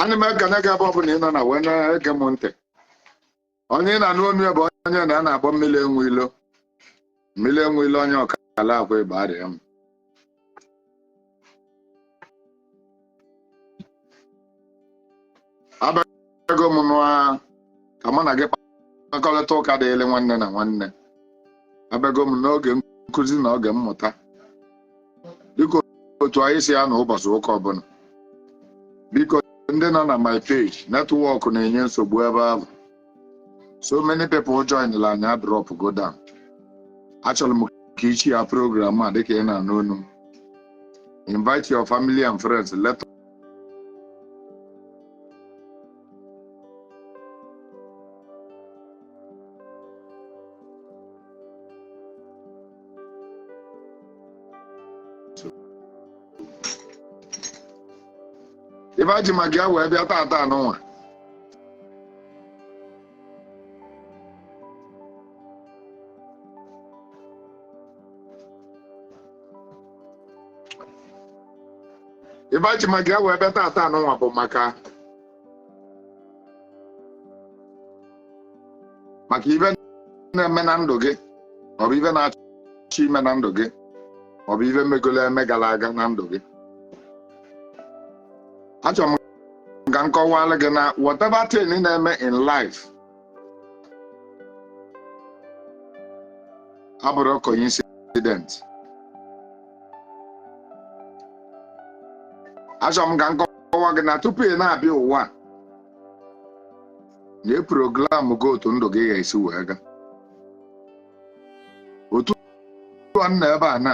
ana m ekene gị ebe ọbụla ị nọ na wee na-ege m ntị onye ị na-anụ onu ya bụ onye na a na-akpọ mmiri enwe ilo mmiri enwe ilo onye ọkala akwa ịgbarịa m abịago m nụa ka mụ na gị kpakọrịta ụka dịịrị nwanne na nwanne abịago m n'oge nkụzi na oge mmụta dịka otu anyị si anọ ụbọsị ụka ọbụla biko ndị nọ na my page network na-enye nsogbu ebe ahụ so many people joinla anyị drop go down achọrọ m ka ị share program a dịka ị na-anụ onu m invite your family and friends let ife anyị ji maka ya wee bịa tata nụnwa ife anyị ji maka ya wee bịa tata nụnwa bụ maka maka ife na-eme na ndụ gị maọbụ ife na-achọ ime na ndụ gị maọbụ ife megolo eme gara aga na ndụ gị achọrọ m ka m kọwalụ gị na whatever thing ị na-eme in life abụrọ coincident achọrọ m ka m kọwa gị na tupu ị na-abịa ụwa a, na e programgo otu ndụ gị ga-esi wee ga otu a m nọ ebe a na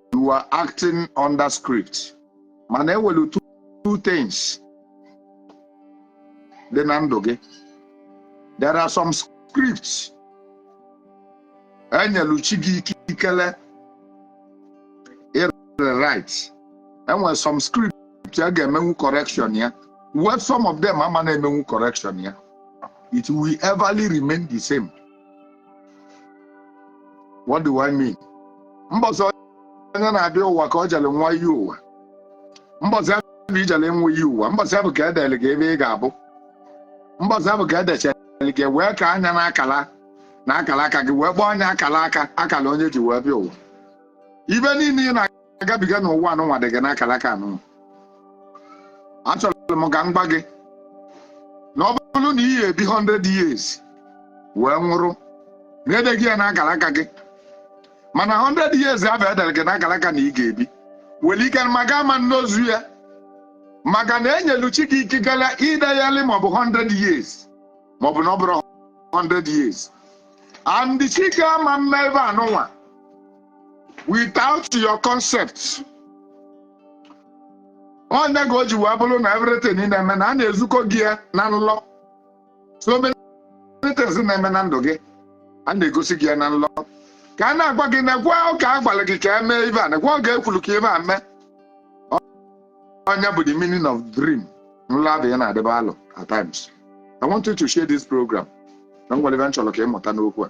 you are acting under script mana enwelu two things dị na ndụ gị there are some scripts enyelu chi gị ikikere ị rewrite enwere some script a ga-emenwu correction ya nwee some of them ama na-emenwu correction ya it will everly remain the same what do I mean mbọsị onye na-abịa ụwa ka o jere ṅụa iyi ụwa mbọsị ya bụ i jele ṅụa iyi ụwa mbọsị ya bụ ka edere gị ife ị ga-abụ mbọsị ya bụ ka edechere gị wee kaa nya na akala na akala aka gị wee kpọọ nya akala aka akala onye ji wee bịa ụwa ife niile ị na agabiga n'ụwa anụnwa dị gị n'akara aka anụnwa achọrọ m ka m gwa gị na ọ bụrụ na ị ya-ebi 100 years wee nwụrụ na edeghị ya n'akara aka gị mana 100 years abụ edere gị n'akara aka na ị ga-ebi nwere ike ma gaa ma nọzu ya maka na enyelu chi gị ikikere ideyeli maọbụ 100 years maọbụ na ọ bụrọ 100 years and chi ga-ama mma ebe anụnwa without your consent ọ nya ka o ji wee bụrụ na everything ị na-eme na a na-eziko gị ya na nlọ so many things na-eme na ndụ gị a na-egosi gị ya na nlọ ka a na-agwa gị na ọ kwa oge a gwara gị ka e mee ife a na ọ kwa oge ekwuru ka ife a mee ọ nya bụ the meaning of dream nlọ abụ ya na-adịba alụ at times I want you to share this program na enwelu ife m chọrọ ka ị mụta n'okwu a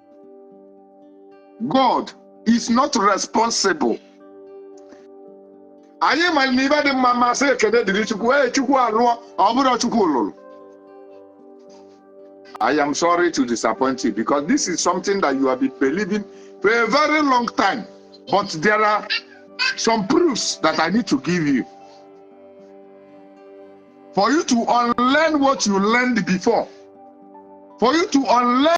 God is not responsible anyị ma na ife dị mma mee a sị ekene dịrị chukwu ee chukwu alụọ ọ bụrọ chukwu lụrụ I am sorry to disappoint you because this is something that you have been believing for a very long time. But there are some proofs that I need to give you. For you to unlearn what you learned before. For you to unlearn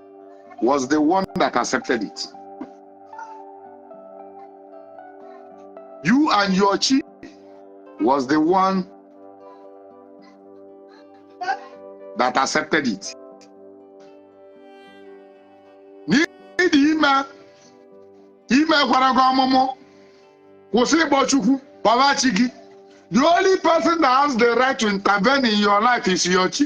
was the one that accepted it. You and your chi was the one that accepted it. N'idi ime ime gwara gị ọmụmụ kwụsị ịkpọ Chukwu kpọba chi gị. The only person that has the right to intervene in your life is your chi.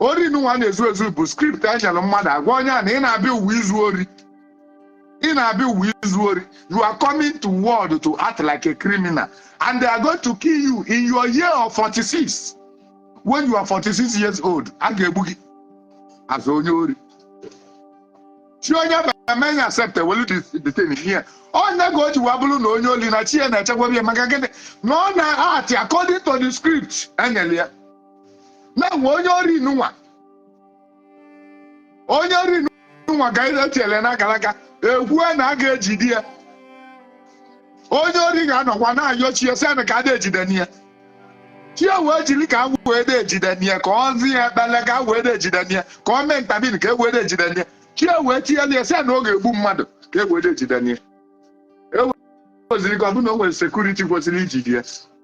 ori nụnwa na-ezu ezu bụ script a nyere mmadụ agwa onye a na ị na-abịa ụwa izu ori ị na-abịa ụwa izu ori you are coming to world to act like a criminal and they are going to kill you in your year of 46 when you are 46 years old a ga-egbu gị as onye ori chi onye bịa mee ya accept ewelu the thing ihe ọ nya ka o ji wee bụrụ na onye oli na chi ya na-echekwa ya maka gịnị na ọ na-act according to the script enyere ya na-enwe onye ori nụnwa onye ori nụnwa ka ihe etinyere n'akala aka ekwue na a ga-ejide ya onye ori ga-anọkwa na-ayọ chi ya sị na ka a na-ejidena ya chi ya wee jiri ka a wee na-ejidena ya ka ọ zi ya ekpele ka a wee na-ejidena ya ka ọ mee intervene ka e wee na-ejidena ya chi ya wee tinye na ya sị na ọ ga-egbu mmadụ ka e wee na-ejidena ya e weziri ka ọ bụ na o nwere security kwesịrị ijide ya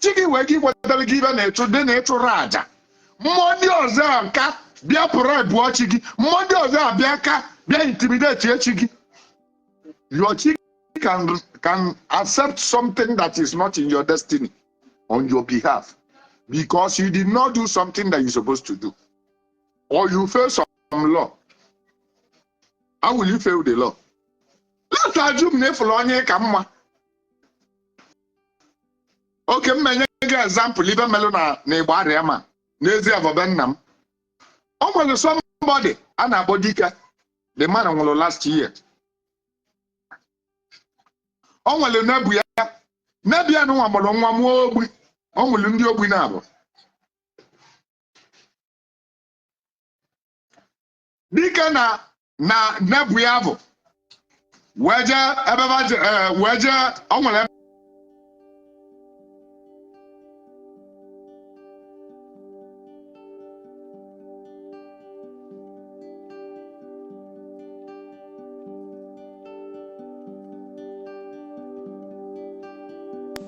chi gị nwere ike kwetara gị ive na-echụ dị na ị chụrọ aja mmụọ ndị ọzọ a ka bịa bribe-ụọ chi gị mmụọ ndị ọzọ a bịa ka bịa intimidate-ie chi gị your chi can can accept something that is not in your destiny on your behalf because you did not do something that you're supposed to do or you fail some law how will you fail the law let's assume na ị fụrụ onye ka mma okay m ma-enye gị example ive melụ na na igbariam n'eziavọ be nna m o nwere somebody a na-akpọ dike the man nwụrụ last year o nwere neighbour ya neighbour ya nwa mụrụ nwa mụọ ogbi ọ mụrụ ndị ogbi naabọ dike na na neighbour ya avụ wee jee ebe ba je- eh, wee jee o nwere ebe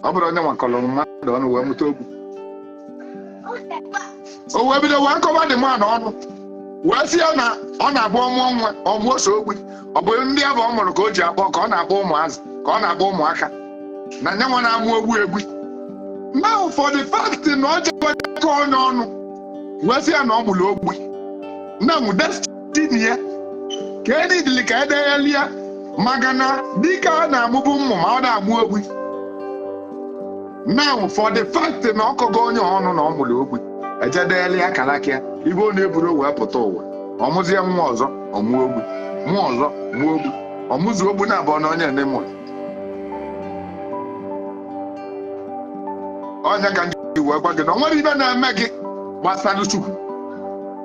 ọ bụrụ onye nwa kọrọ mmadụ ọnụ wee mụta ogbi o wee bido wee kọwa the man ọnụ wee sị ya na ọ na-abụ ọ mụọ nwa ọ mụọ sọ ogbi ọ bụ ndị avụ ọ mụrụ ka o ji akpọ ka ọ na-akpọ ụmụazị ka ọ na-akpọ ụmụaka na nya nwa na-amụ ogbi ogbi now for the fact na o jewe akọ onye ọnụ wee sị ya na ọ mụrụ ogbi n'ime destiny ya ka e nidili ka e degheli ya maka na dike a na-amụbu ụmụ ma ọ da-amụ ogbi now for the fact na ọ kọgo onye ọnụ na ọ mụrụ ogbi e jee degheli ya akalaka ya ive ọ na-eburọ wee pụta ụwa ọ mụzie nwa ọzọ ọ mụọ ogbi nwa ọzọ mụọ ogbi ọ mụzie ogbi naabọ na onye ndị mụrụ ọ nya ka m ji wee gwa gị na o nwerọ ive na-eme gị gbasara chukwu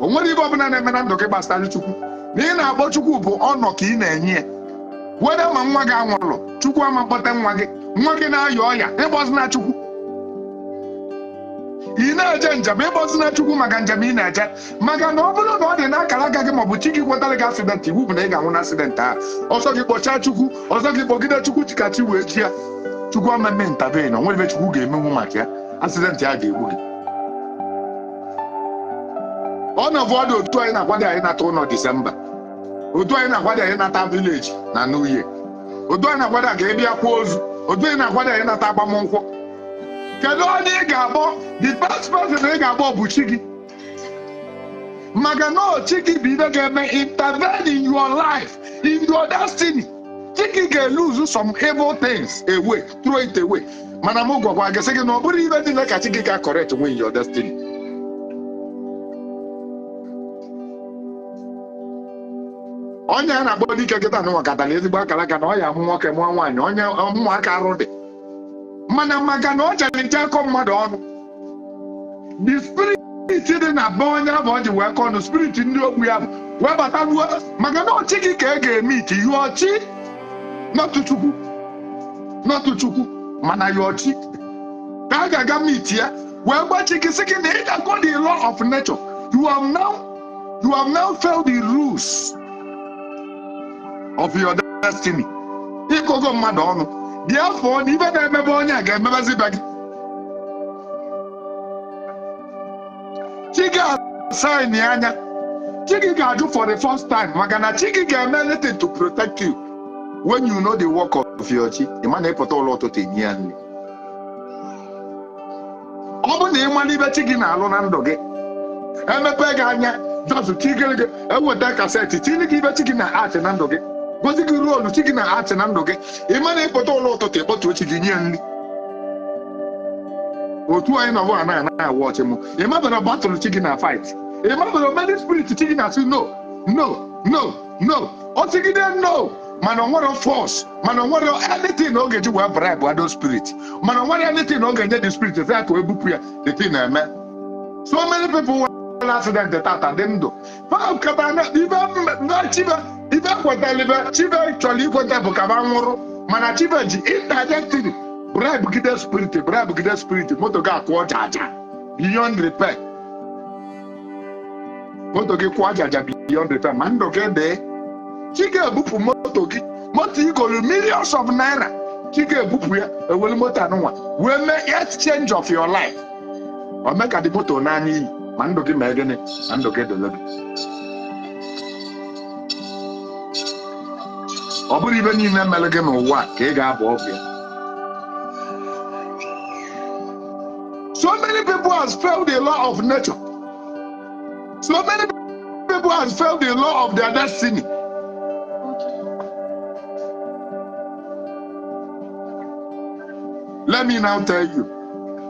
o nwerọ ive ọbụla na-eme na ndụ gị gbasara chukwu na ị na-akpọ chukwu bụ ọnọ ka ị na-enye ya weda ma nwa gị anwụrụ chukwu ama mkpọta nwa gị nwa gị na-aya ọya ị kpọzina chukwu ị na-eje njem ị kpọzina chukwu maka njem ị na-eje maka na ọ bụrụ na ọ dị n'akara aka gị maọbụ chi gị kwetara gị accident iwu bụ na ị ga-anwụ na accident ahụ ọ sọ gị kpọchaa chukwu ọ sọ gị kpọgide chukwu ka chi wee jie chukwu ama mme intervene o nwerọ ive chukwu ga-emenwu maka ya accident ya ga-egbu gị ọ na ụfọdụ otu anyị na-akwado anyị nata ụlọ december otu anyị na-akwado anyị nata village na new year otu anyị na-akwado ka ị bịa kwaa ozu otu anyị na-akwado anyị nata agbamnkwụ kedu onye ị ga-akpọ the best person ị ga-akpọ bụ chi gị maka na ọ chi gị bụ ive ga-eme intervene in your life in your destiny chi gị ga-eluzu some evil things away throw it away mana m gwakwa gị sị gị na ọ bụrọ ibe niile ka chi gị ga correct nwu in your destiny onye a na-akpọ dike kịta nwekatara ezigbo akara aka na ọ ya-amụ nwoke mụọ nwaanyị onye ụmụaka arụ dị mana maka na ọ jere je akọ mmadụ ọnụ the spirit dị na be onye abụ ọ ji wee kọọ ọnụ spirit ndị okwu ya bụ wee bata ruo maka na ọ chi gị ka e ga-emeet ya ọ chi n'ọtụchukwu n'ọtụchukwu mana ya ọ chi ka a ga-aga meet ya wee gwa chi gị sị gị na ị dago the law of nature you have now you have now failed the rules of your destiny ị kọgo mmadụ ọnụ bịa fụọ na ibe na-eme be onye a ga-emebezi be gị chi gị asaịnị anya chi gị ga-ajụ for the first time maka na chi gị ga-eme anything to protect you when you know the work of your chi ị ma na ị pụta ụla ụtụtụ enye ya nri ọ bụ na ị mara ibe chi gị na-alụ na ndụ gị emepe gị anya just tinyere gị eweta cassette tinye gị ibe chi gị na-act na ndụ gị gosi gị role chi gị na-act na ndụ gị ị ma na ị pụta ụla ụtụtụ ị kpọtuo chi gị nye nri otu anyị nọbụ a na na-awụ ọ chi mụ ị mabara battle chi gị na-fight ị mabara how many spirit chi gị na-asị no no no no ọ sịgide no mana o nwerọ force mana o nwerọ anything na ọ ga-eji wee bribe all those spirit mana o nwerọ anything na ọ ga-enye the spirits ka ebupụ ya the thing na-eme so many people nwere accident tata dị ndụ ha kaba na ibe m- na chi be ibe kwetali ibe chi be chọrọ ikweta bụ ka ba nwụrụ mana chi be ji indirectly bribe gide spirit bribe gide spirit moto gị akwụọ jaja beyond repair moto gị kwụọ jaja beyond repair ma ndụ gị dị chi ga-ebupụ moto gị moto i golu millions of naira chi ga-ebupụ ya ewelu moto anụnwa wee mee exchange of your life o mee ka the moto naa n'iyi ma ndụ gị mee gịnị ma ndụ gị dịrị gị ọ bụrọ ibe niile mere gị n'ụwa ka ị ga-abọ ọbọ ya so many people has failed the law of nature so many people has failed the law of their destiny Let me now tell you,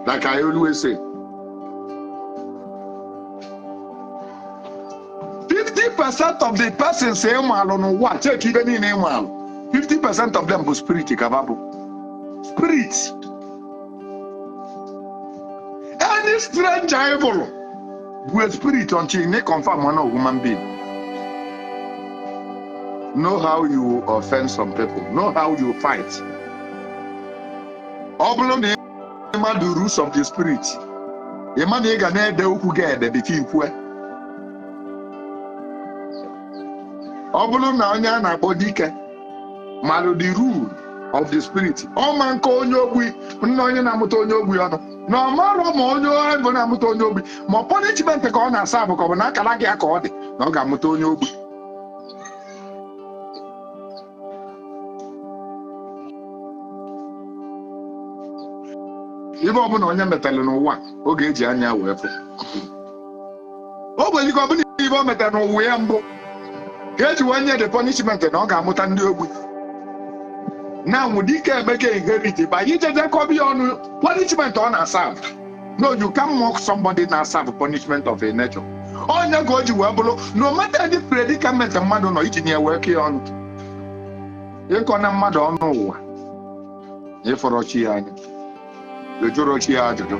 like I always say, 50% of the persons ị maalụ n'ụwa check ibe niile ị maalụ 50% of them bụ spirit ka ba bụ spirit any stranger ị bụlụ bụ a spirit until ị confirm na ọ bụ human being. Know how you offend some people. Know how you fight. Ọ bụrụ na ị malụ the rules of the spirit, ị ma na ị ga na-ede okwu gị ede bifo ị kwue. Ọ bụrụ na onye a na-akpọ dike malụ the rule of the spirit, ọ ma na-akọ onye ogbi na onye na-amụta onye ogbi ọnụ. na ọ marọ ma onye afụ na-amụta onye ogbi ma ọ punishment ka ọ na-asavụ ka ọ bụ na akaraka ya ka ọ dị na ọ ga-amụta onye ogbi ive ọbụla onye metalụ n'ụwa ọ ga-eji anya wee fụ o nwere ike ọ bụlụ ive o metara n'ụwa ya mbụ ka eji wee nye the punishment na ọ ga-amụta ndị ogbi now dike emeka inherit by ijeje kọba ya ọnụ punishment ọ na-asav no you can't mock somebody na-asav punishment of a nature ọ nya ka o ji wee bụrụ no matter any predicament mmadụ nọ ị jina ya wee kọọ ya ọnụ ị kọna mmadụ ọnụ ụwa ị fụrọ chi ya anya jụrọ chi ya ajụjụ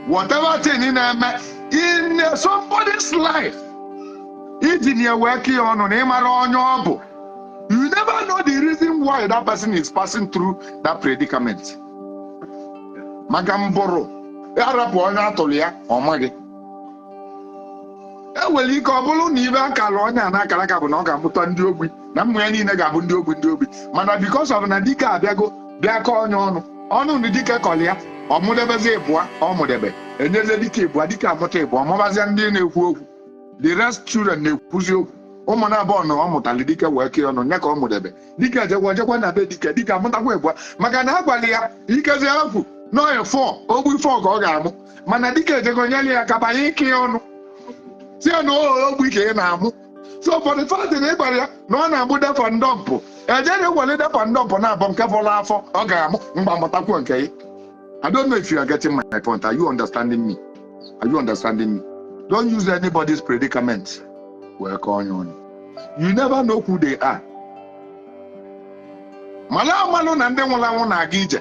whatever thing na-eme in a somebody's life ị jina ya wee kọọ ya ọnụ na ị marọ onye ọ bụ you never know the reason why that person is passing through that predicament maka mbụrụ arapụ onye a tụrụ ya ọ maa gị o nwere ike ọ bụrụ na ive a kara onye a n'akaraka bụ na ọ ga-amụta ndị ogbi na ụmụ ya niile ga-abụ ndị ogbi ndị ogbi mana because of na dike abịago bịa kọọ ya ọnụ ọnụ ndị dike kọrọ ya ọ mụdebezi ịbụa ọ mụdebe e nyezie dike ịbụa dike amụta ịbụa mụbazia ndị na-ekwu okwu the rest children na-ekwuzi okwu ụmụ naabọ nụ ọ mụtara dike wee kọọ ya ọnụ ya ka ọ mụdebe dike jekwa jekwa na be dike dike amụtakwa ịbụa maka na a gwara ya ikezie afụ n'ọya four ogbi four ka ọ ga-amụ mana dike ejego nyere ya aka by ịkọ ya ọnụ sị ya na ogbi ka ị na-amụ so for the fact na ị gwara ya na ọ na-amụ deaf and dumb i jere were deaf and dumb naabọ nke fọrọ afọ ọ ga-amụ ngwa mụtakwuo nke ya I don't know if you are getting my point. Are you understanding me? Are you understanding me? Don't use anybody's predicament wee kọọ ya ọnụ. You never know who they are. Malụ amalụ na ndị nwụrụ anwụ na-aga ije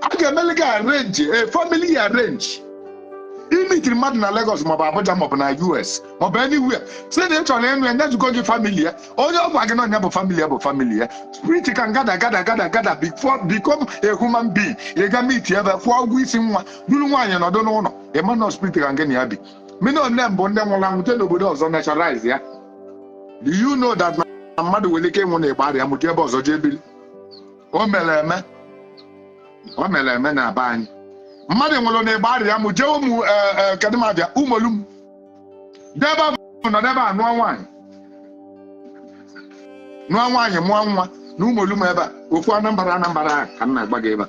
a ga-emeli gị arrange a family arrange ị meetiri mmadụ na Lagos maọbụ Abuja maọbụ na US maọbụ anywhere sị na ị chọrọ ịnụ ya nya jikọọ gị famili ya onye ọ gwa gị na ọ nya bụ famili ya bụ famili ya spirit can gather gather gather gather before become a human being ị ga meet ebe kwụọ ụgwọ isi nwa duru nwaanyị nọdụ n'ụlọ ị ma na spirit ka ngị na ya bi mmiri ole mbụ ndị nwụrụ anwụ jee n'obodo ọzọ naturalize ya do you know that na mmadụ nwere ike ịnwụ na Igbariam pụta ebe ọzọ jee biri o mere eme o mere eme na be anyị mmadụ nwụrụ na Igbariam jee ụmụ eh, eh, kedụ m abịa Ụmụolum dị ebe a nọdụ ebe a nụọ nwaanyị nụọ nwaanyị mụọ nwa na Ụmụolum ebe a ofu anambara anambara a ka m na-agwa gị ebe a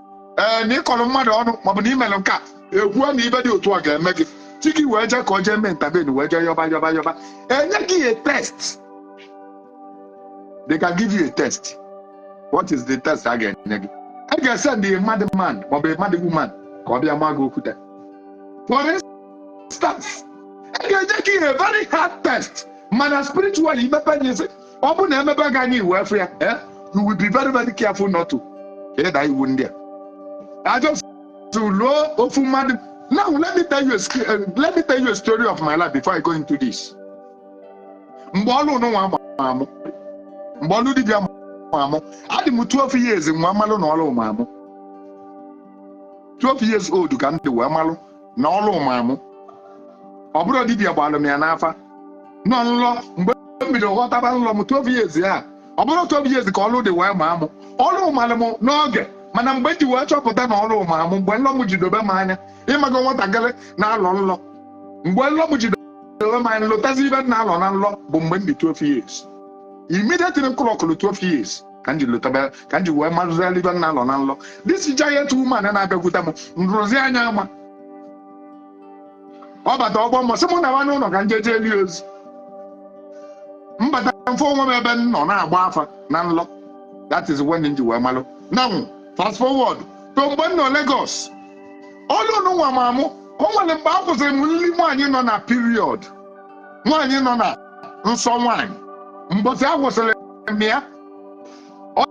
ee na ịkọrọ mmadụ ọnụ maọbụ na imelụ nke a ekwuo na ibe dị otu a ga-eme gị chi gị wee jee ka ọ jee mee intervene wee jee yọba yọba yọba enye gị a test they can give you a test what is the test a ga-enye gị a ga-esend a mad man maọbụ a mad woman ka ọ bịa maa gị okwute for instance a ga-enye gị a very hard test mana spiritually imepe anya sị ọ bụrụ na emepe gị anya i wee fụ ya eh, you will be very very careful not to ịda iwu ndị a ajọsụ lụọ ofu mmadụ now let me tell you a, sk- eh, let me tell you a story of my life before I go into this mgbe ọlụ nunwa maa mụ mgbe ọlụ dibịa maa mụ adị m 12 years mụ amalụ na ọlụ maa mụ 12 years old ka m dị wee malụ na ọlụ maa mụ ọ bụrọ dibịa gbalụ m ya n'afa n'ọ nlọ mgbe m bidoro ghọtaba nlọ m 12 years a ọ bụrọ 12 years ka ọlụ ji wee maa mụ ọlụ malụ m n'oge mana mgbe m ji wee chọpụta na ọlụ maa mụ mgbe nlọ m ji dobe m anya ịmago nwatakịrị na-alọ nlọ mgbe nlọ m ji dobe m anya lotazi ibe m na-alọ na nlọ bụ mgbe m dị 12 years immediately m clockụrụ 12 years ka m ji lotaba ka m ji wee marụziala ibe m na-alọ na nlọ this giant woman na-abịakwute m nrụzi anya ama ọ bata ọ kpọọ m ọ sị mụ naba n'ụnọ ka m jeje eli ozi m bata m fụ onwe m ebe m nọ na-agba afa na nlọ that is when m ji wee malụ now fast forward to mgbe m nọ Lagos ọlụ nunwa maa mụ o nwere mgbe a kwụsịrị m nri nwaanyị nọ na period nwaanyị nọ na nsọ nwaanyị mbọsị a kwụsịrị m ya ọ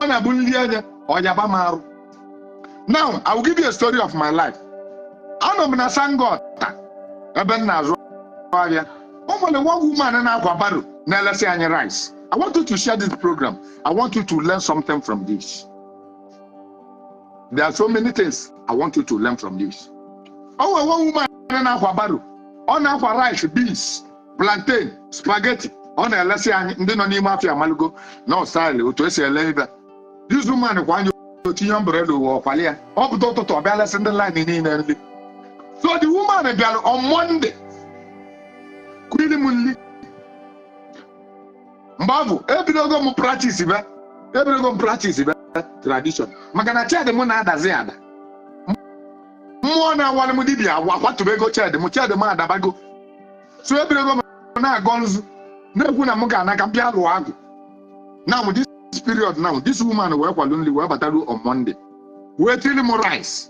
ọ na-abụ m rie ya ọ yaba m arụ now i will give you a story of my life anọ m na Sango Ota ebe m na-azụ ahịa o nwere one woman na-akwa barrow na-elesi anyị rice i want you to share this program i want you to learn something from this There are so many things I want you to learn from this. O nwere one woman na-akwa barrow, ọ na-akwa rice, beans, plantain, spaghetti, ọ na-elesi anyị ndị nọ n'ime afịa amalugo na style otu esi ele ibe. This woman kwanye o tinye umbrella ụwa ọ kwali ya, ọ pụta ụtụtụ ọ bịa lesi ndị line niile nri. So the woman bịara on Monday, kwiri m nri mgbe ahụ ebidogo m practice be ebidogo m practice be tradition maka na shed m na-adazi ada mmụọ na-awalị m dibia agwụ akwatubego shed m shed m adabago so ebidogo m na-agọ nzu na-ekwu na m ga-ana ka m bịa lụọ agwụ na this period now this woman wee kwado nri wee bataru on Monday wee tiri m rice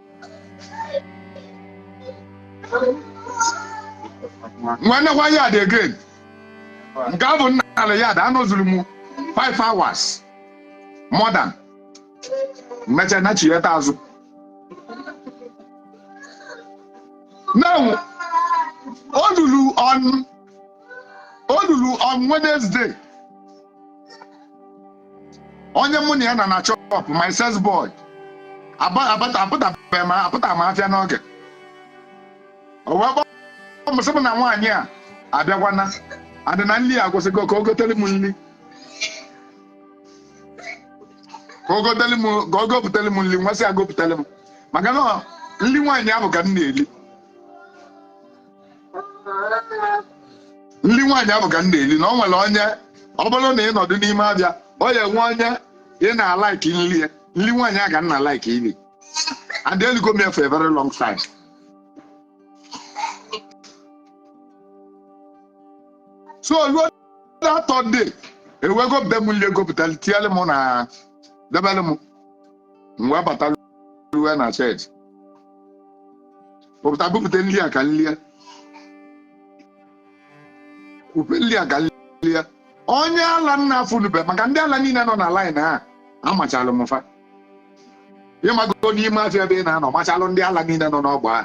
m wee nakwa yard again nke a bụ m nala yard anọzuru m 5 hours more than m mecha nachighata azụ now o lulu on o luru on Wednesday onye mụ na ya nọ na shop my sales boy apụta m afịa n'oge o wee kpọọ mụ sị m na nwaanyị a abịakwana adị na nri agwụsị ka o gotere m nri ka o gotere m ka o gopụtara m nri m wee sị ya gopụtara m maka na nri nwaanyị ahụ ka m na-eri nri nwaanyị ahụ ka m na-eri na ọ nwere onye ọ bụrụ na ị nọdụ n'ime afịa ọ ya enwe onye ị na-alaiki nri ya nri nwaanyị a ka m na-alaiki iri and eligo m ya for a very long time so ruo that third day e wee gote m nri e gopụtara tiele m na debere m m wee bataru na shed Pụta bupụta nri a ka m rie ya. Kwupe nri a ka m rie ya. Onye ala m na-afụnube maka ndị ala niile nọ na line a amachalụ m fa. Ịmago n'ime afịa ebe ị na-anọ machalụ ndị ala niile nọ n'ogbe a.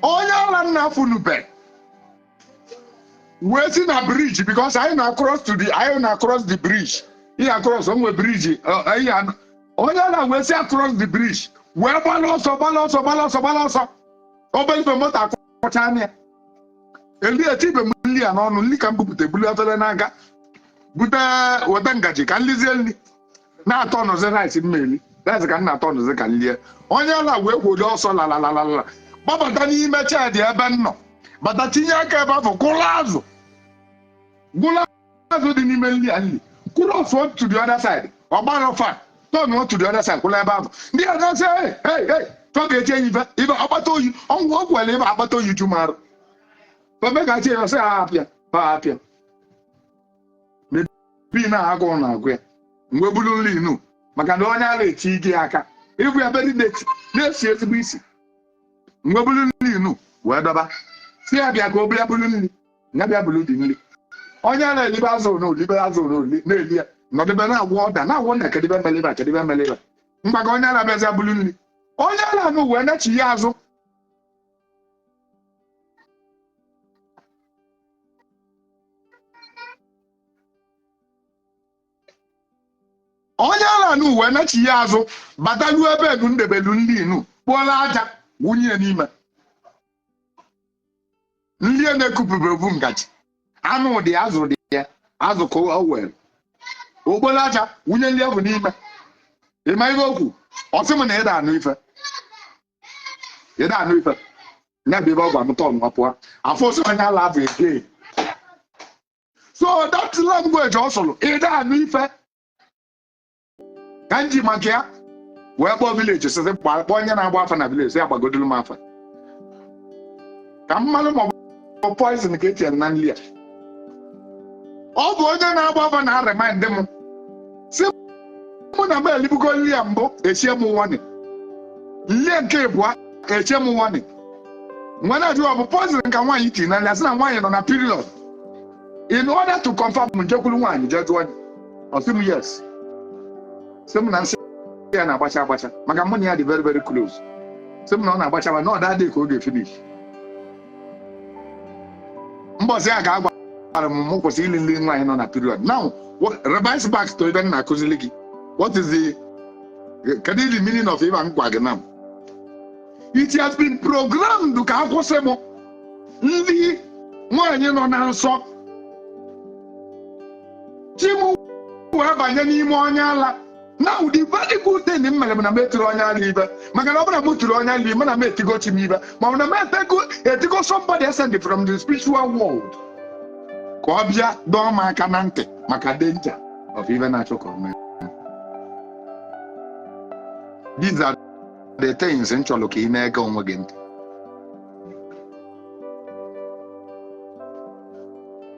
Onye ala m na-afụnube wee si na bridge because anyị nọ across the anyị nọ across the bridge ị ya cross o nwere bridge ihe anọ onye ala wee si across the bridge wee gbala ọsọ gbala ọsọ gbala ọsọ gbala ọsọ obere ife moto akwụcha anya eli etibe m nri a n'ọnụ nri ka m bupụta ebuli efere n'aka bute weta ngaji ka m lizie nri na-aturnụzi rice mmeri rice ka m na-aturnụzi ka m lie onye ala wee kwudo ọsọ lalalalala gbabata n'ime shed ebe m nọ bata tinye aka ebe afụ kụrụ azụ gụrụ azụ dị n'ime nri a nri kụrụ ofu to the other side ọ gbarọ far turn to the other side kwụrụ ebe ahụ ndị a na-asị "Hey, hey, hey, chọ ga-eche ya ife ife akpata oyi ọnwụ ọ gwara ife akpata oyi ju m arụ fa ga-achụ ya sị hapụ ya hapụ ya maybe na agụụ na-agụ ya m wee buru nri inu maka na onye ara eti gị aka ịbụ ya beri na-esi ezigbo isi m wee buru nri inu wee dọba sị ya bịa ka o bịa buru nri ya bịa buru dị nri onye ara elibe azụ na olibe azụ na oli na-eli ya nọdebe na-agwọ ọda na-agwọ nna kedebe meliba kedebe meliba mgbe ka onye ara bịazịa buru nri onye ara anụ wee nachie azụ onye ala anụ wee nachie azụ bata luo ebe enu m debelu nri inu kporo aja wunye n'ime nri a na-ekupụbe obu ngaji anụ dị ya, azụ dị ya azụ ka o wee kporo aja wunye nri ahụ n'ime ị ma ibe o kwu ọ sị m na ị da anụ ife ị da anụ ife ya bụ ibe ọ gwa m turn ọ pụọ afụzi m onye ala bụ ege so that language ọ sụrụ ị da anụ ife ka m ji maka ya wee kpọọ village sị sị kpọọ onye na-agba afa na village sị ya gbagodolu m afa ka m malụ ma ọ bụ poison ka e tinyere na nri a ọ bụ onye na-agba afa na-remind m sị mụ na m elibugo nri ya mbụ echie m warning nri nke ịbụa echie m warning m wee na-ajụ ọ bụ poison ka nwaanyị tiri na nri a sị na nwaanyị nọ na period in order to confirm m jekwuru nwaanyị jee jụọ ya ọ sị m yes sị m na nsọ ya na-agbacha agbacha maka mụ na ya dị very very close sị m na ọ na-agbacha ma na ọ dadị ka ọ ga-efinish mbọsị a ka a gwara m mụ kwụsị ili nri nwaanyị nọ na period now what- revise back to ibe m na-akụziri gị what is the kedu the meaning of ibe m gwa gị now it has been programmed ka a kwụsị m nri nwaanyị nọ na nsọ chi m wee banye n'ime onye ala now the very good thing m mere bụ na m etiro onye ala ibe maka na ọ bụrụ na m tiri onye ala ibe na m etigo chi m ibe ma ọ bụ na m etego etigo somebody sent from the spiritual world ka ọ bịa dọọ m aka na ntị maka danger of ibe na-achọ ka ọ mee these are the things m chọrọ ka ị na-ege onwe gị ntị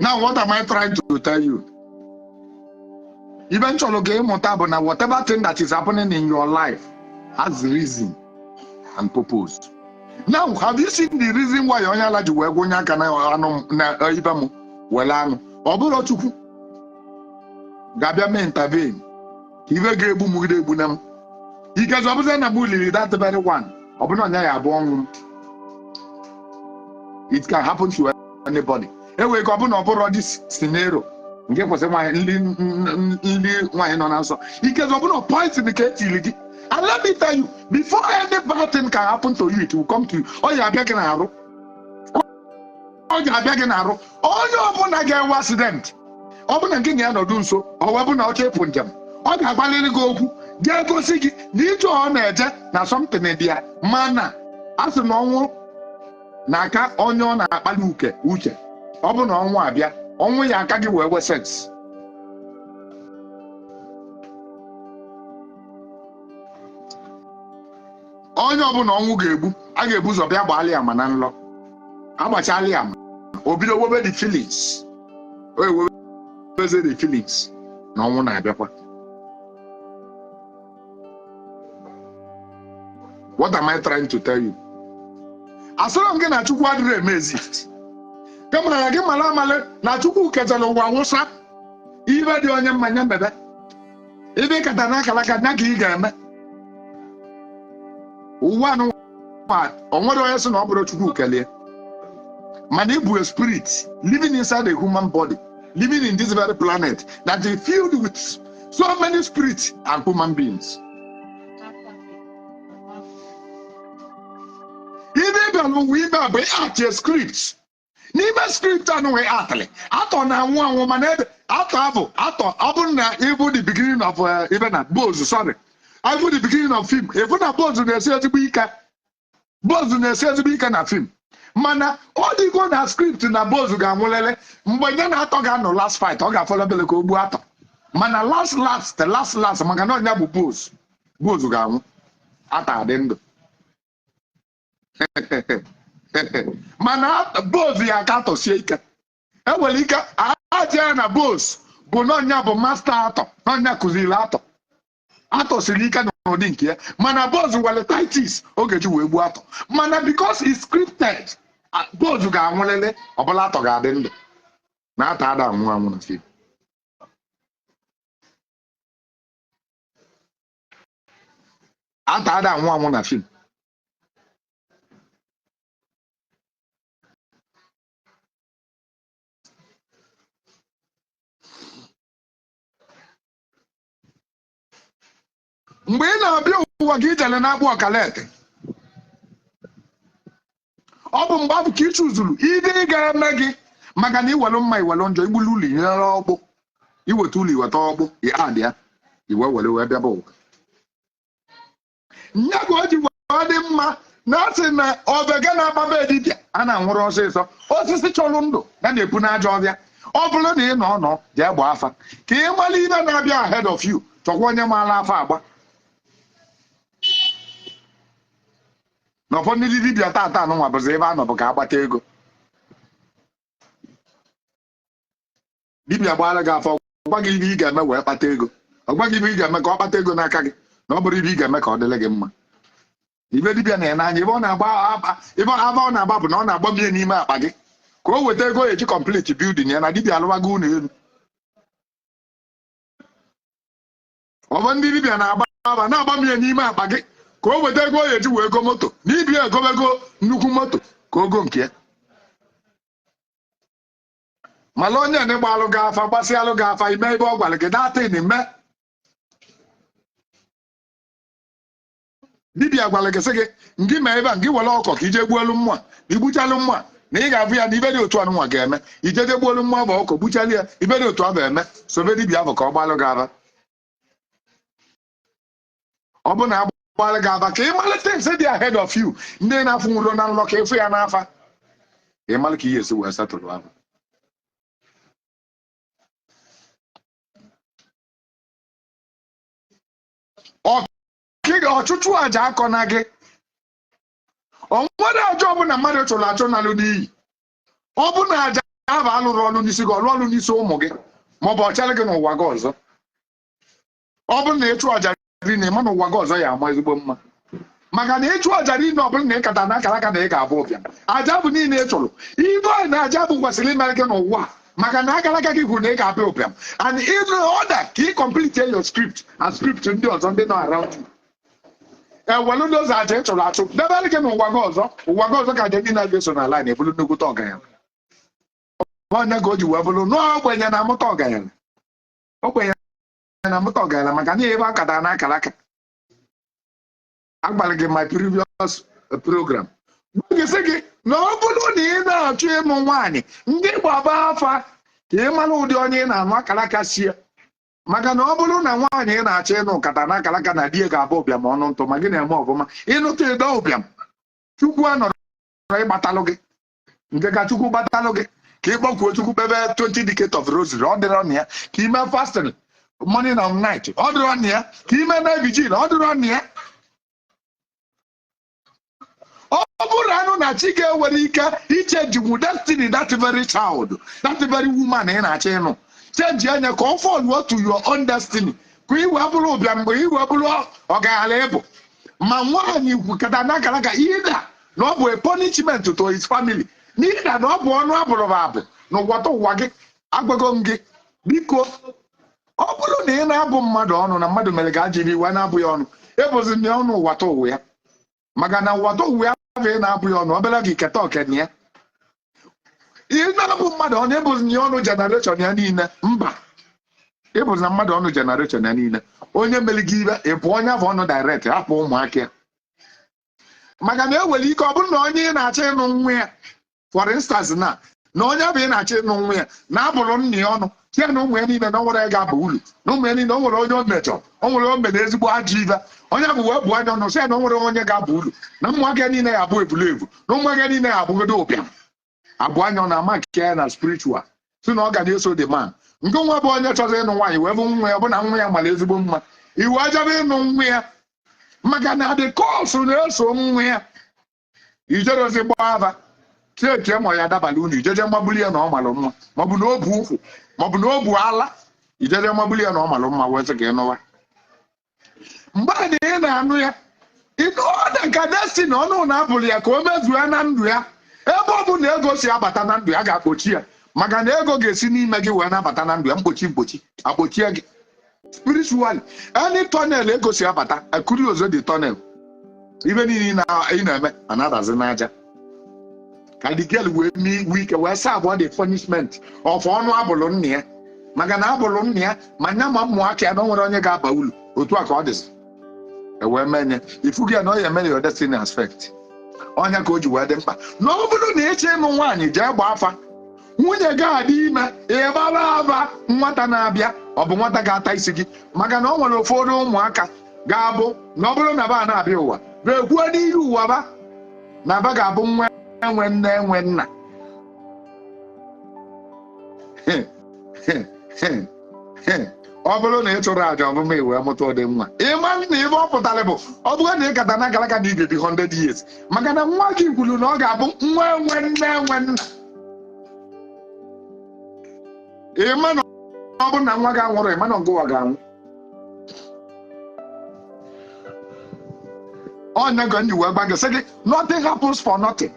Now, what am I trying to tell you? Ibe m chọrọ ka ị mụta bụ na whatever thing that is happening in your life has reason and purpose. Now, have you seen the reason why onye ala ji wee gwa onye aka na anụ na eh, ibe mere anụ? Ọ bụrọ Chukwu ga-abịa mee intervene ibe ga-egbu m gide egbu na m ikezi ọ bụzi na mụ liri that very one ọ bụ na ọ nya ya-abụ ọnwụ m it can happen to anybody enwere ka ọ bụ na ọ bụrọ this scenario nke kwesị nwaanyị nli nli nwaanyị nọ na nsọ ikezi ọ bụ na poison ka e tiri gị and let me tell you before any bad thing can happen to you it will come to you ọ ya abịa gị na arụ ọ ga-abịa gị n'arụ onye ọbụla ga-enwe accident ọ bụ na nke na ya nọdụ nso ọ wee bụ na ọ chọọ ịpụ njem ọ ga-agbalịrị gị okwu ga-egosi gị na ije ọ na-eje na something dị ya mana a sị na ọnwụ na-aka onye ọ na-akpali uke uche ọ bụ na ọnwụ abịa ọnwụ ya aka gị wee wee sense onye ọbụla ọnwụ ga-egbu a ga-ebu ụzọ bịa gbaalị ama na nlọ agbachalị ama o bido webe the feelings o ewebeze the feelings na ọnwụ na-abịakwa what am I trying to tell you asịrọ m gị na chukwu adịrọ eme exist kama na gị mara amale na chukwu kechara ụwa wụsa ibe dị onye mma nya mebe ibe ị kata na akara aka nya ka ị ga-eme ụwa nụ o nwere onye sị na ọ bụrọ chukwu kelee mana ị bụ a spirit living inside a human body living in this very planet that is filled with so many spirits and human beings ibe ịbịa n'ụwa ibe a bụ ị act your script n'ime script anụnwa atịlị actor na-anwụ anwụ mana ebe actor abụ actor ọ bụrụ na ịbụ the beginning of eh, ịbụ na bozu sorry ịbụ the beginning of film ịbụ na bozu na-esi ezigbo ike bozu na-esi ezigbo ike na film mana ọ dịgo na script na bozu ga-anwụlịlị mgbe nya na actor ga-anụ last fight ọ ga-afọlọ obele ka o gbuo actor mana last last last last maka na ọ nya bụ bozu bozu ga-anwụ actor adị ndụ mana boss ya aka actor sie ike e nwere ike aja ya na boss bụ na ọ nya bụ master actor na ọ nya kụziri actor actor siri ike n'ụdị nke ya mana boss were tactics ọ ga-eji wee gbuo actor mana because it's scripted boss ga-anwụlịlị ọbụla actor ga-adị ndụ na actor ada anwụ anwụ na film actor ada anwụ anwụ na film mgbe ị na-abịa ụwa gị i jele na akpụ ọkalete ọ bụ mgbe ahụ ka ị chụzuru ibe gara eme gị maka na iwere mma iwere njọ igbulu ụlọ inyere ọkpụ iweta ụlọ iweta ọkpụ adị ya iwe were wee bịaba ụwa nya ka o ji wee dị mma na a sị na ọbịaga na-agba be dibịa ana-anwụrọ ọsịsọ osisi chọrọ ndụ ya na-epu n'ajọ ọfịa ọ bụrụ na ị nọ ọnọ jee gbaa afa ka ị mara ihe na-abịa ahead of you chọkwa onye maara afa agba na ụfọdụ ndị dibịa tata nwa bụzi ebe a nọ bụ ka a kpata ego dibịa gbaara gị afa ọ gwa gị ibe ị ga-eme wee kpata ego ọ gwa gị ibe ị ga-eme ka ọ kpata ego n'aka gị na ọ bụrọ ibe ị ga-eme ka ọ dịrị gị mma ibe dibịa na-ene anya ebe ọ na-agba ebe afa ọ na-agba bụ na ọ na-agbami ya n'ime akpa gị ka o weta ego eji complete building ya na dibịa alụwago ụlọ elu ọ bụ ndị dibịa na-agba afa na-agbami ya n'ime akpa gị ka o weta ego ọ ya-eji wee go moto na ibe ya egobego nnukwu moto ka o go nke ya mala onye na-agbalụ gị afa gbasịalụ gị afa i mee ibe ọ gwara gị that thing mee dibia gwara gị sị gị ngị mee ibe a ngị were ọkụkọ ka i jee gbuolu mmụọ na igbuchalụ mmụọ na ị ga-afụ ya na ibe dị otu a nwa ga-eme ijeje gbuolu mmụọ ahụ ọkụkọ gbuchalụ ya ibe dị otu ahụ eme sobe dibia ahụ ka ọ gbalụ gị afa ọ bụ na agbalụ gị afa ka ị mara things dị ahead of you ndị na-afụ nwụrụ na nlọ ka ịfụ ya n'afa ka ị mara ka ị ya-esi wee settle ahụ gị ga ọchụchụ aja akọna gị onwerọ aja ọbụla mmadụ chụrụ achụ nalụ n'iyi ọ bụ na aja ahụ alụrọ ọlụ n'isi gị ọ lụọ ọlụ n'isi ụmụ gị maọbụ o chere gị n'ụwa gị ọzọ ọ bụrụ na ịchụ aja rinne ị ma na ụwa gị ọzọ ya-ama ezigbo mma maka na ịchụ aja rinne ọ bụrụ na ị kata na akara aka na ị ga-abụ ụbịam aja ahụ niile ị chụrụ ibe na aja ahụ kwesịrị imere gị n'ụwa maka na akara aka gị kwuru na ị ga-abụ ụbịam and in order ka ị complete your script and script ndị ọzọ ndị nọ around you ewelu ndị ụzọ aja ị chụrụ achụ debere gị n'ụwa gị ọzọ ụwa gị ọzọ ka aja niile ga-eso na line ị bụlụ nnukwute ọgaranya ọ nya ka o ji wee bụrụ na ogbenye na-amụta ọgaranya ogbenye na-amụta ọgaranya maka na ebe a katara na akara aka agwalị gị my previous eh, program gị sị gị na ọ bụrụ na ị na-achọ ịnụ nwaanyị ngị gbaba afa ka ị mara ụdị onye ị na-anụ akara aka sie maka na ọ bụrụ na nwaanyị ị na-achọ ịnụ kata na akara aka na di ya ga-abụ ụbịam ọnụ ntụ ma gị na-eme ọ bụ ma ị nụta ị daa ụbịam chukwu anọrọ ịgbatalụ gị nke ka chukwu gbatalụ gị ka ị kpọkwuo chukwu kpebe 20 decade of rosary ọ dịrọ na ya ka ime fasting morning and night ọ dịrọ na ya ka ime night vigil ọ dịrọ na ya ọ bụrụ anụ na chi gị enwerọ ike ichenjinwu destiny that very child that very woman ị na-achọ ịnụ chenjie nya ka ọ fọluo to your own destiny ka ị wee bụrụ ụbịam mgbe ị wee bụrụ ọgaranya ịbụ ma nwaanyị kwukata n'akaraka either na ọ bụ a punishment to his family either na ọ bụ ọnụ a bụrụ ha abụ na ụwata ụwa gị agwago m gị biko ọ bụrụ na ị na-abụ mmadụ ọnụ na mmadụ mere gị ajọ ihe ị wee na-abụ ya ọnụ abụzina ọnụ ụwata ụwa ya maka na ụwata ụwa ya bụ ị na-abụ ya ọnụ obere gị keta oke na ya ị na-abụ mmadụ ọnụ abụzina ọnụ generation ya niile mba abụzina mmadụ ọnụ generation ya niile onye mere gị ibe ị bụọ onye afụ ọnụ direct hapụ ụmụaka ya maka na e nwere ike ọ bụrụ na onye ị na-achọ ịnụ nwa ya for instance na na onye bụ ị na-achọ ịnụ nwa ya na a bụrụ nna ya ọnụ ya na ụmụ ya niile na o nwerọ ga-aba ulu na ụmụ ya niile o nwere onye o mejọ o nwere o mere ezigbo ajọ ibe onye bụ wee bụọ nya ọnụ sị ya na o nwerọ onye ga-aba ulu na ụmụaka ya niile ya abụ evulevu na ụmụaka ya niile ya abụgodo ụbịam abụọ nya ọnụ ama nke ya na spiritual si na ọ ga na-eso the man ngịnwa bụ onye chọrọ ịnụ nwaanyị wee bụ nwa ya bụ na nwa ya mara ezigbo mma ị wee jebe ịnụ nwa ya maka na the curse na-eso nwa ya i jerozi gbaa aba cheekie ma ya-adabala unu ijeje mmagbuli ya na ọ malụ mma maọbụ na o bu ukwu maọbụ na o bu ala ijeje mmagbuli ya na ọ malụ mma wee sị ka ị nụwa mgbe a na ị na-anụ ya in order ka destiny ọnụ na a bụrụ ya ka o mezuo ya na ndụ ya ebe ọ bụla ego si abata na ndụ ya ga-akpochi ya maka na ego ga-esi n'ime gị wee na-abata na ndụ ya mkpochi mkpochi akpochie gị spiritually any tunnel ego si abata e closuo the tunnel ibe niile ị na- ị na-eme ana-adazi n'aja ka the girl wee nwee ike wee serveụọ the punishment of ọnụ a bụlụ nna ya maka na a bụlụ nna ya ma nya ma ụmụaka ya na o nwerọ onye ga-aba ulu otu a ka ọ dịzi ewee menye ifugi ya na ọ ya emere your destiny aspect ọ nya ka o ji wee dị mkpa na ọ bụrụ na ị chọ ịnụ nwaanyị jee gbaa afa nwunye gị adị ime ị gbara aba nwata na-abịa ọ bụ nwata ga-ata isi gị maka na ọ nwere ụfọdụ ụmụaka ga-abụ na ọ bụrụ na ba na-abịa ụwa ba ekwuo n'iru ụwa ba na ba ga-abụ nwa enwe nne enwe nna ọ bụrụ na ị chụrọ aja ọmụmụ ị wee mụta ụdị nwa ị ma na ibe ọ pụtara bụ ọ bụrụ na ị kata na akalaka na ị ga-ebi 100 years maka na nwa gị kwuru na ọ ga-abụ nwa enwe nne enwe nna ị ma na ọ bụrụ na nwa gị anwụrọ ị ma na ngịnwa ga-anwụ ọ nya ka m ji wee gwa gị sị gị nothing happens for nothing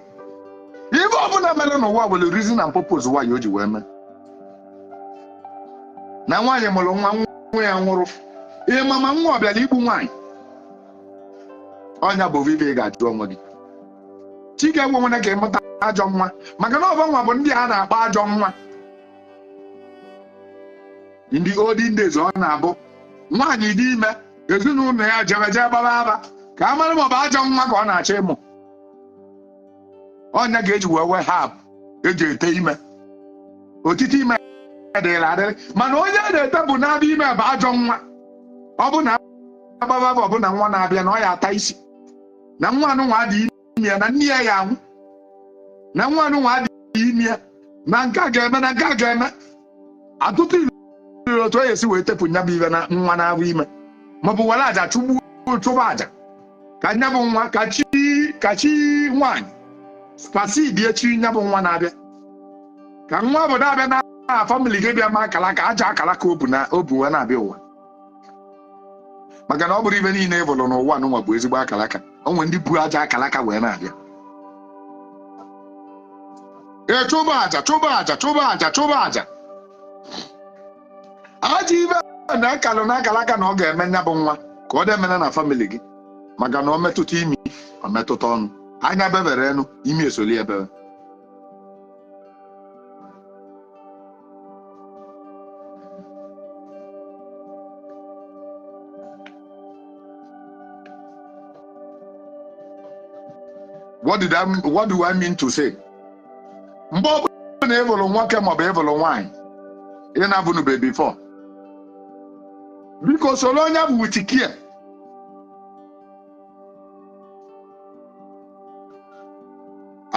ife ọbụla mere n'ụwa nwere reason and purpose why o ji wee mee na nwaanyị mụrụ nwa nwa ya nwụrụ ị ma ma nwa ọ bịara igbu nwaanyị ọ nya bụ ife ị ga-ajụ onwe gị chi gị ekwekwana ka ị mụta ajọ nwa maka na ọba nwa bụ ndị a na-akpọ ajọ nwa in the olden days ọ na-abụ nwaanyị dị ime ezinụlọ ya jebe jee gbaa afa ka a mara ma ọ bụ ajọ nwa ka ọ na-achọ ịmụ ọ nya ka e ji wee wee hap e ji ete ime otite ime dịrị adịrị mana onye a na-ete bụ na-abịa ime bụ ajọ nwa ọ bụ na a gbaa afa ọ bụ na nwa na-abịa na ọ ya-ata isi na nwa anụnwa dị ime ime ya na nne ya ya-anwụ na nwa anụnwa a dị ime ya na nke a ga-eme na nke a ga-eme a tụta ilolo otu a ya-esi wee tepụ nya bụ ife na nwa na-abụ ime maọbụ were aja chụgbuo chụba aja ka nya bụ nwa ka chi ka chi nwaanyị supersede chi nya bụ nwa na-abịa ka nwa obodo abịa na family gị bịa ma akalaka ajọ akalaka o bu na o bu wee na-abịa ụwa maka na ọ bụrọ ife niile ị fụlụ n'ụwa n'ụwa bu ezigbo akalaka o nwe ndị bu ajọ akalaka wee na-abịa ee chụba aja chụba aja chụba aja chụba aja ajọ ife na a kalụ n'akalaka na ọ ga-eme nya bụ nwa ka ọ demena na family gị maka na o metụta imi o metụta ọnụ anya bebere nụ imi esolu ya bee What did I, what do I mean to say? mgbe ọ bụrụ na ị bụrụ nwoke maọbụ ị bụrụ nwaanyị ị na-abụnube before biko soro onye bụ witikie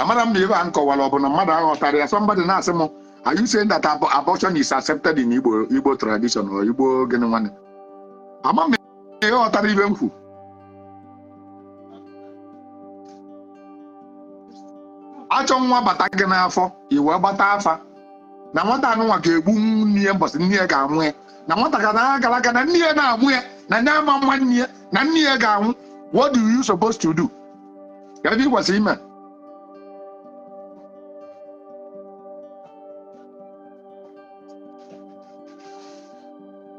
amara m na ife a m kọwara ọ bụ na mmadụ aghọtarọ ya somebody na-asị m are you saying that ab- abortion is accepted in Igbo Igbo tradition or Igbo gịnị nwanne ama m ma ị ghọtara ife m kwu ajọ nwa bata gị n'afọ i wee gbata afa na nwata anụnwa ga-egbu nne ya mbọsị nne ya ga-amụ ya na nwata ka n'akalaka na nne ya na-amụ ya na nya ama ma nne ya na nne ya ga-anwụ what do you supposed to do kedu ihe ị kwesịrị ime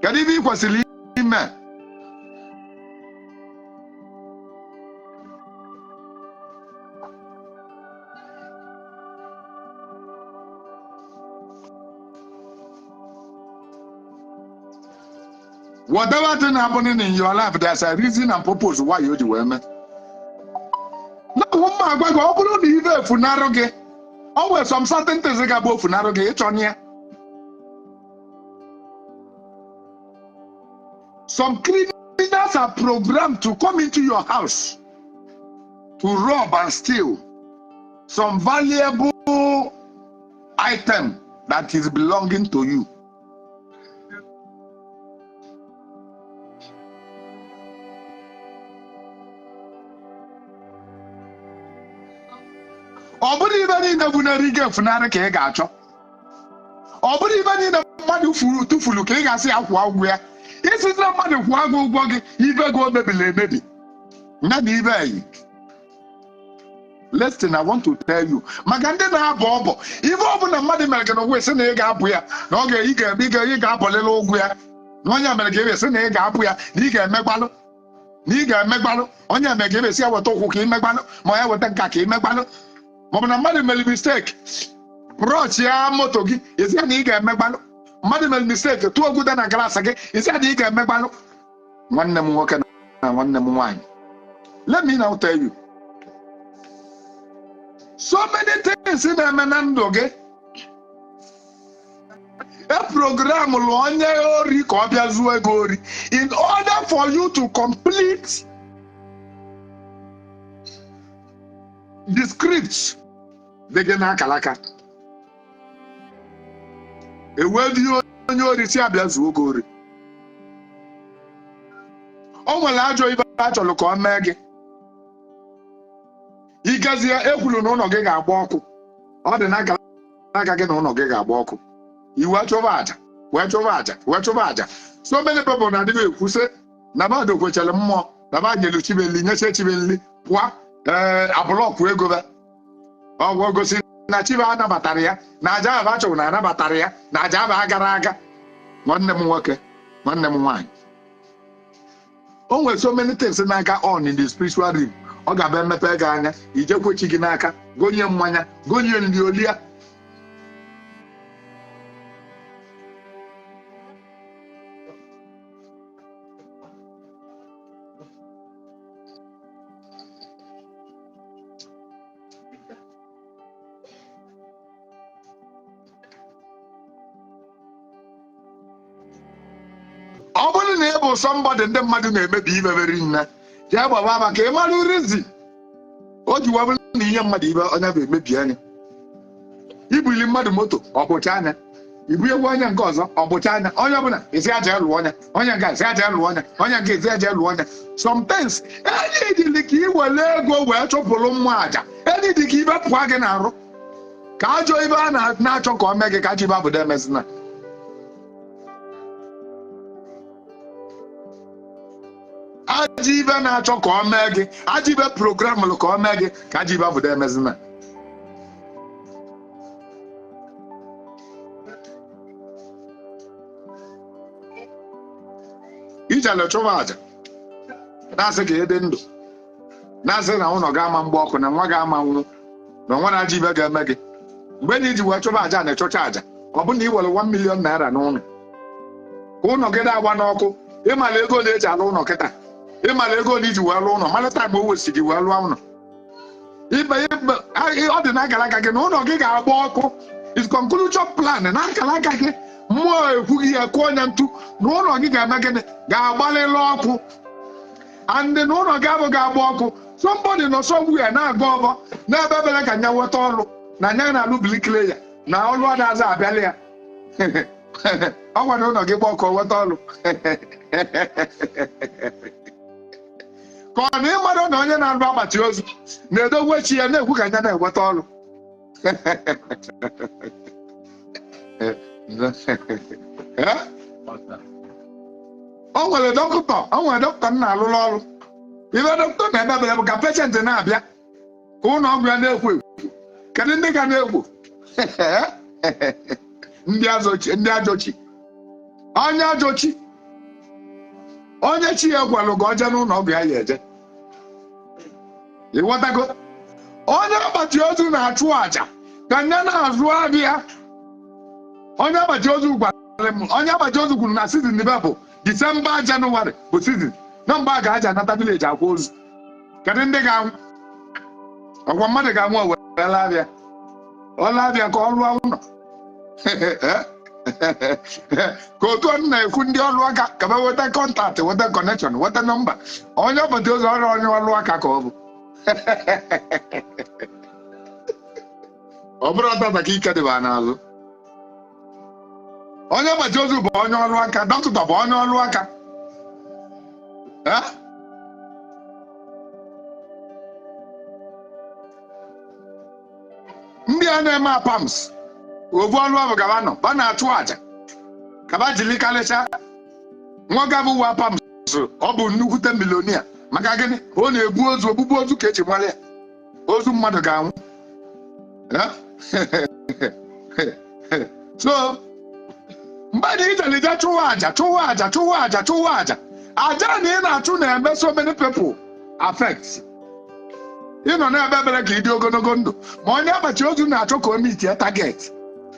kedu ihe ị kwesịrị ime whatever thing happening in your life there's a reason and purpose why o ji wee mee now m ma-agwa gị ọ bụrụ na ive efunarụ gị o nwere some certain things ga-abụ o funarụ gị ị chọna ya some criminals are programmed to come into your house to rob and steal some valuable item that is belonging to you ọ bụrọ ive niile funarị gị efunarị ka ị ga-achọ ọ bụrọ ive niile mmadụ furu tufuru ka ị ga-asị ya kwụọ ụgwọ ya ị sịzi na mmadụ kwụọ gị ụgwọ gị ive gị o mebiri emebi ya na ive yi Listen, I want to tell you. Maka ndị na-abọ ọbọ, ife ọbụla mmadụ mere gị n'ụwa ị sị na ị ga-abọ ya, na ọ ga- ị ga- ị ga- ị ga-abọlịlị ọbọ ya. Na onye mere gị ive ị sị na ị ga-abọ ya, na ị ga-emegbalụ. Na ị ga-emegbalụ. Onye mere gị ive ị sị ya weta ụkwụ ka ị megbalụ, ma ya weta aka ka ị megbalụ. Ma ọ bụ na mmadụ mere mistake, brushịa moto gị, ị sị ya na ị ga-emegbalụ. Mmadụ mere mistake, tụọ okwute na glass gị, ị sị ya na ị ga-emegbalụ. nwanne m nwoke na nwanne m nwaanyị let me now tell you so many things na-eme na ndụ gị e programụlụ onye ori ka ọ bịa zuo gị ori in order for you to complete the script dị gị n'akalaka e wee zi onye ori sị ya bịa zuo gị ori o nwere ajọ ive a chọrọ ka o mee gị ị gazie e kwuru na ụlọ gị ga-agba ọkụ ọ dị n'akalaka gị na ụlọ gị ga-agba ọkụ ị wee chụba aja wee chụba aja wee chụba aja so many people na-adị ekwu sị na ba dokwechara mmụọ na ba nyelu chi be nli nyesie chi be nli pụọ ee abụlọkụ ego be o wee gosi na chi ba anabatara ya na aja ba chụrụ na a nabatara ya na aja ba gara aga nwanne m nwoke nwanne m nwaanyị o nwere so many things na-aga on in the spiritual realm ọ ga-abịa emepe gị anya i jikwa chi gị n'aka gonye mmanya gonye nri o lia ọ bụrụ na ị bụ somebody ndị mmadụ na-emebi ive be rinne jee gbaa ava maka ịmara reason o ji wee bụrụ na i nye mmadụ ive onye avụ emebie ya ibuli mmadụ moto ọ bụcha anya ibu egwu onye nke ọzọ ọ bụcha anya onye ọbụla esi aja lụọ ọnya onye nke esi aja lụọ ọnya onye nke esi aja lụọ ọnya sometimes edidili ka i were ego wee chụpụrụ mmụọ aja edidi ka ibe pụọ gị n'arụ ka ajọ ibe a na- na-achọ ka o mee gị ka ajọ ibe abụ da emezina ajọ ibe na-achọ ka o mee gị ajọ ibe programụlụ ka o mee gị ka ajọ ibe abụ da emezina i jili chụwa aja na-asị ka ị dị ndụ na-asị na ụlọ gị ama agba ọkụ na nwa gị ama anwụ na nwerọ ajọ ibe ga-eme gị mgbe na i ji wee chụba aja na-achụcha aja ọ bụ na ị were 1 million naira n'ụlọ ka ụlọ gị na-agba n'ọkụ ị mala ego na e ji alụ ụlọ kịta ị mala ego na i ji wee lụọ ụlọ mara time o wesi gị wee lụọ ụlọ ibe ọ dị na akara aka gị na ụlọ gị ga-agba ọkụ is conclusion plan na akara aka gị mmụọ ekwugo ya kụọ nya ntu na ụlọ gị ga-eme gịnị ga-agbalịlị ọkụ and na ụlọ gị abụ ga-agba ọkụ somebody nọ somewhere na-agọ ọbọ na-ekpe ekpere ka nya nweta ọrụ na nya na-alụ bricklayer na ọrụ ọ na-aza abịala ya ọkwa na ụlọ gị gba ọkụ nweta ọrụ ka ọ na ị mara na onye na-alụ akpati ozu na-edowe chi ya na-ekwu ka nya na-enweta ọrụ o nwere dọkịta o nwere dọkịta m na-alụrụ ọrụ ibe dọkịta na-ekpe ekpere bụ ka peshentị na-abịa ka ụlọ ọgwụ ya na-ekwo ekwo kedu ndị ga na-ekwo ndị ajọ chi onye ajọ chi onye chi ya gwalụ ka o jee n'ụlọ ọgwụ ya ya eje ị ghọtago onye akpati ozu na-achụ aja ka nya na-azụ abịa onye akpati ozu gwara m onye akpati ozu kwuru na sizin be bụ disemba janụwarị bụ sizin na mgbe a ga-aja anata vileji akwa ozu kedu ndị ga-anwụ ọkwa mmadụ ga-anwụ o wee lee abịa o lee abịa ka ọ rụọ ụlọ ka otu ọ na-ekwu ndị ọrụ aka ka ba weta kọntaktị weta kọnekshọn weta nọmba onye akpati ozu ọrụ onye ọrụ aka ka ọ bụ ọ bụrụ ọtata ka ike dịba n'azụ onye akpati ozu bụ onye ọrụ aka dọkịta bụ onye ọrụ aka Eh? ndị a na-eme apams ovu ọrụ ọrụ gaba nọ ba na-achụ aja ka ba jiri karịcha nwoke bụ wa apams ọ bụ nnukwute millionaire maka gịnị ọ na-ebu ozu obubu ozu ka eji mara ya ozu mmadụ ga-anwụ so mmadụ ijelije chụwa aja chụwa aja chụwa aja chụwa aja aja na ị na-achụ na-eme so many people affect ị nọ na-ekpe ekpere ka ị dị ogologo ndụ ma onye akpati ozu na-achọ ka o meetie target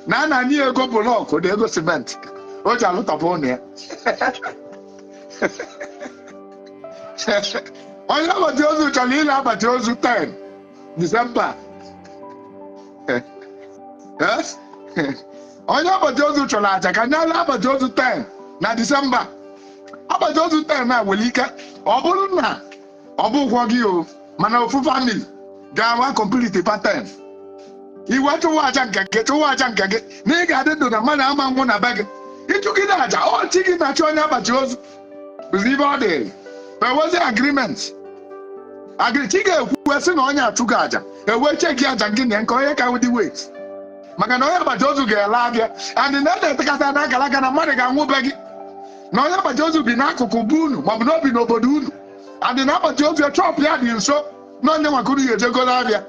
na ana anyị ego block na ego cement o ji alụtapụ ụnọ ya onye akpati ozu chọrọ ile akpati ozu 10 disemba Eh? onye akpati ozu chụrụ aja ka nya lee akpati ozu 10 na disemba akpati ozu 10 na nwere ike ọ bụrụ na ọ bụ ụgwọ gị o mana ofu family ga-anwụ complete ba 10 ị wee chụwa aja nke gị chụwa aja nke gị na ị ga-adị ndụ na mmadụ ama nwụ na be gị ịchụgide aja ọ chi gị na chi onye akpati ozu bụzi ibe ọ dịrị ewezi agreement chi ga-ekwuwe sị na onye achụgo aja ewee checkie aja gị na nke onye ka dị weight maka na onye akpati ozu ga-ele afịa and na-edetekata na akara aka na mmadụ ga-anwụ be gị na onye akpati ozu bi n'akụkụ be unu maọbụ na o bi n'obodo unu and na akpati ozu shop ya dị nso na ọ ya nwa ka unu ga-eje goro afịa ọ ya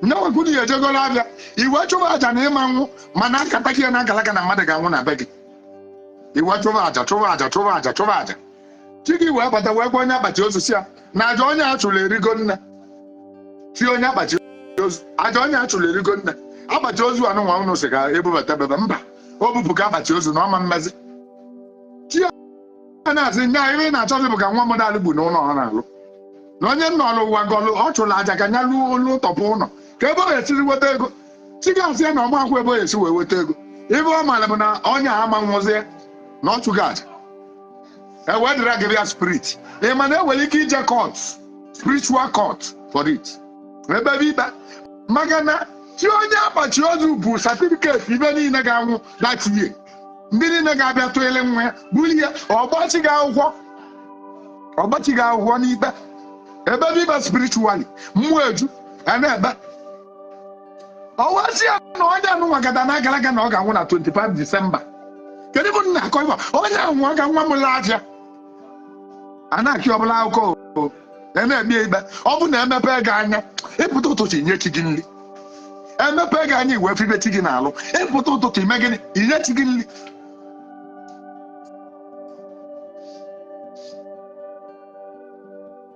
nwa ka unu ga-eje goro afịa ị wee chụba aja na ịma nwụ mana akata gị ya na akalaka na mmadụ ga-anwụ na be gị ị wee chụba aja chụba aja chụba aja chụba aja chi gị wee bata wee gwa onye akpati ozu sị ya na aja onye a chụrụ erigo nne sị onye akpati ozu aja onye a chụrụ erigo nne akpati ozu anụnwa unu sị ga-ebubata bebe mba o bupụ ka akpati ozu na ọ ma-emezi chi ya na-asị nye anyị ihe ị na-achọzi bụ ka nwa mmadụ alụpụna ụlọ ọ na-alụ na onye nna ọlụ ụwa gọlụ ọ chụrụ aja ka nya lụọ olu tọpụ ụlọ kee ebe ọ ga-esiri weta ego chi ga-asị ya na ọma akwụ ebe ọ ga-esi wee weta ego ive ọ maara bụ na onye a ama nwụzie na ọ chụgo aja ewee drag ya spirit ị ma na enwere ike ije court spiritual court for it ebe ekpe ikpe maka na chi onye akpati ozu bu certificate ive niile ga-anwụ that year ndị niile ga-abịa tụele nwa ya buru ya ọ gbaa chi gị akwụkwọ ọ gbaa chi gị akwụkwọ n'ikpe ebe ekpe ikpe spiritually mmụọ eju a na-ekpe o wee sị ya na onye anụnwa akata na akara aka na ọ ga-anwụ na 25 disemba kedu ive unu na-akọ iwa onye anụnwa ga-anwụ m lee afịa a na-achị ọbụla akwụkwọ a na-ekpe ikpe ọ bụ na emepe gị anya ịpụta ụtụtụ inye chi gị nri emepe gị anya ị wee febe chi gị nlu ịpụta ụtụtụ ime gịnị inye chi gị nri